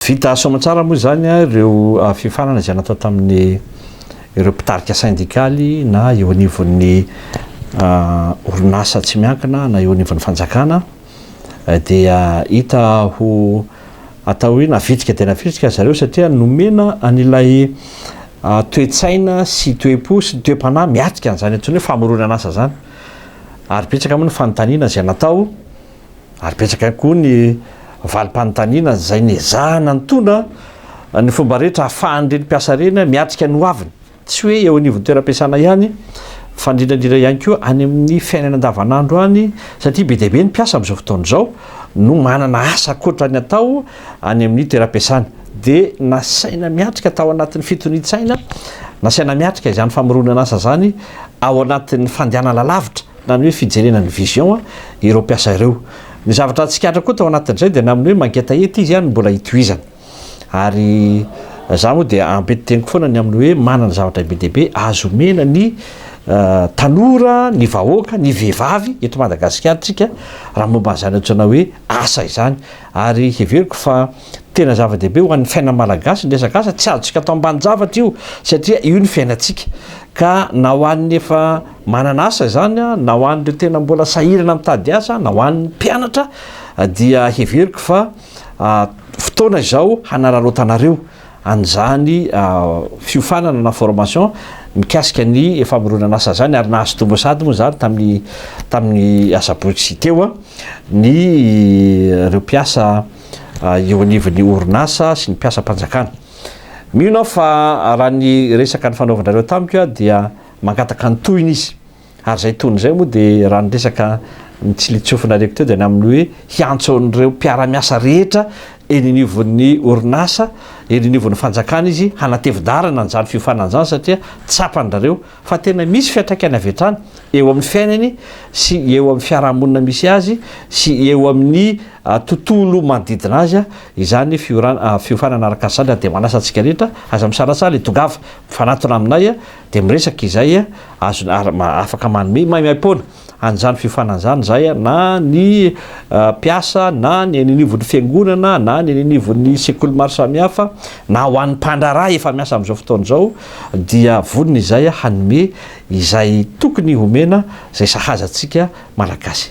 Vita soamantsara moa izany ireo fiofanana izay natao tamin'ny ireo mpitarika sendikaly na eo anivon'ny orinasa tsy miankina na eo anivon'ny fanjakana dia hita ho atao hoe navitrika dia navitrika ry zareo satria nomena an'ilay toe-tsaina sy toe-po sy ny toe-panahy miatrika an'izany antsoina hoe famoronan'asa izany ary betsaka moa ny fanontaniana izay natao ary betsaka ihany koa ny valim-panontaniana izay niezahana nitondra ny fomba rehetra ahafahan'ireny mpiasa ireny miatrika ny hoaviny, tsy hoe eo anivon'ny toeram-piasana ihany fa indrindra indrindra ihany koa any amin'ny fiainana andavanandro any satria be dia be ny mpiasa amin'izao fotoana izao no manana asa ankoatra ny atao any amin'ny toeram-piasany dia nasaina miatrika tao anatin'ny fitonian-tsaina, nasaina miatrika izany famoronana asa izany ao anatin'ny fandehanana lavitra. na ny hoe fijerena ny vision ireo mpiasa ireo. Ny zavatra tsikaritra koa tao anatin'izay dia namin'ny hoe mangetaheta izy no mbola hitohizana. Ary za moa dia ampianteniko foana ny amin'ny hoe manana zavatra be dia be azo omena ny tanora, ny vahoaka, ny vehivavy eto Madagasikara tsika raha momba an'izany antsoina hoe asa izany. Ary heveriko fa. Tena zava-dehibe ho an'ny fiainan'ny Malagasy ny resaka asa, tsy azontsika atao ambanin-javatra io satria io ny fiainantsika ka na ho an'ny efa manana asa izany na ho an'ireo tena mbola sahirana mitady asa na ho an'ny mpianatra dia heveriko fa fotoana izao hanararaotanareo an'izany fiofanana na formation mikasika ny famoronana asa izany ary nahazo tombony sahady moa izany tamin'ny tamin'ny asabotsy teo ny ireo mpiasa eo anivon'ny orinasa sy ny mpiasam-panjakana. Mino aho fa raha ny resaka nifanaovanareo tamiko dia mangataka ny tohiny izy. Ary izay tohiny izay moa dia raha ny resaka nitsilitsofinareko teo dia ny amin'ny hoe hiantso an'ireo mpiara-miasa rehetra eny anivon'ny orinasa, eny anivon'ny fanjakana izy hanatevin-dalana an'izany fiofanana izany satria tsapan-dRareo fa tena misy fiantraikany avy hatrany eo amin'ny fiainany sy eo amin'ny fiarahamonina misy azy sy eo amin'ny tontolo manodidina azy izany ny fiofanana ara-kasandra dia manasa antsika rehetra aza misalasaha ilay tongava mifanatona aminay dia miresaka izay azony afaka manome maimaimpoana an'izany fiofanana izany izahay na ny mpiasa na ny eny anivon'ny fiangonana na ny eny anivon'ny sekoly maro samihafa na ho an'ny mpandraharaha efa miasa amin'izao fotoana izao dia vonona izahay hanome izay tokony homena izay sahaza antsika malagasy.